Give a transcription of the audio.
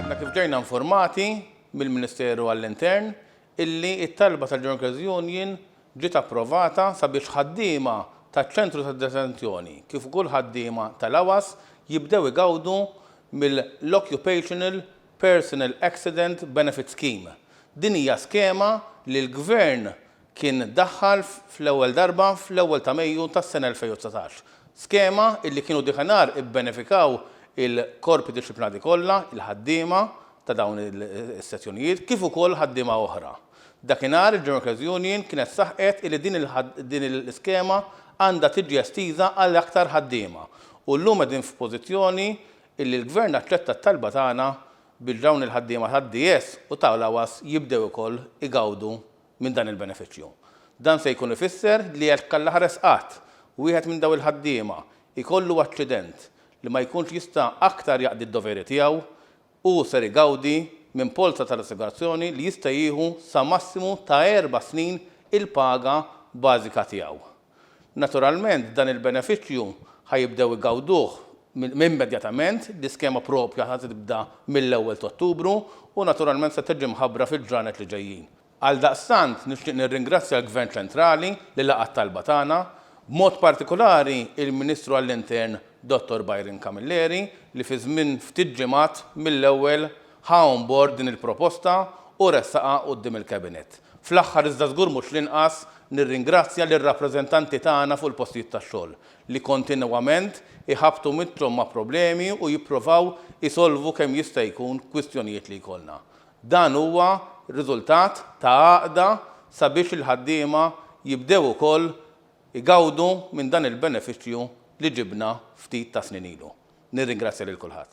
Għadna kif ġejna informati mill-Ministeru għall-Intern illi t-talba tal-Junkers Union ġiet approvata sabiex ħaddiema taċ-Ċentru tad-Detenzjoni kif ukoll ħaddiema tal-AWAS jibdew igawdu mill-Occupational Personal Accident Benefit Scheme. Din hija skema li l-Gvern kien daħħal fl-ewwel darba fl-ewwel ta' Mejju tas-sena 2019, skema illi kienu dikinhar ibbenefikaw il-korpi dixxiplinati kollha, il-ħaddiema ta' dawn is-sezzjonijiet kif ukoll ħaddiema oħra. Dakinhar il-General Union kienet saħqet illi din l-iskema għandha tiġi estiża għal aktar ħaddiema u llum qegħdin f'pożizzjoni illi l-Gvern aċċetta t-talba tagħna biex dawn il-ħaddiema tad-DS u tal-AWAS jibdew ukoll igawdu minn dan il-benefiċċju. Dan se jkun ifisser li jekk allaħares qatt wieħed minn dawn il-ħaddiema jkollu aċċident li ma jkunx jista' aktar jaqdi d-doveri tiegħu, hu ser igawdi minn polza tal-assigurazzjoni li jista' jieħu sa massimu ta' erba' snin il-paga bażika tiegħu. Naturalment, dan il-benefiċċju ħa jibdew igawduh immedjatament, l-iskema proprja ħa tibda mill-ewwel t'Ottubru u naturalment se tiġi mħabbra fil-ġranet li ġejjin. Għaldaqstant, nixtieq nirringrazzja l-Gvern Ċentrali li laqa' t-talba tagħna, b'mod partikulari l-Ministru għall-Intern Dottor Byron Camilleri li fi żmien ftit ġimgħat mill-ewwel ħa on bord din il-proposta u ressaqha quddiem il-Cabinet. Fl-aħħar iżda żgur mhux l-inqas, nirringrazzja lir-rappreżentanti tagħna fuq il-postijiet tax-xogħol, li kontinwament iħabbtu mitthom ma' problemi u jipprovaw isolvu kemm jista' jkun kwistjonijiet li jkollna. Dan huwa riżultat ta' għaqda sabiex il-ħaddiema jibdew ukoll igawdu minn dan il-benefiċċju li ġibna ftit ta' snin ilu. Nirringrazzja lil kulħadd.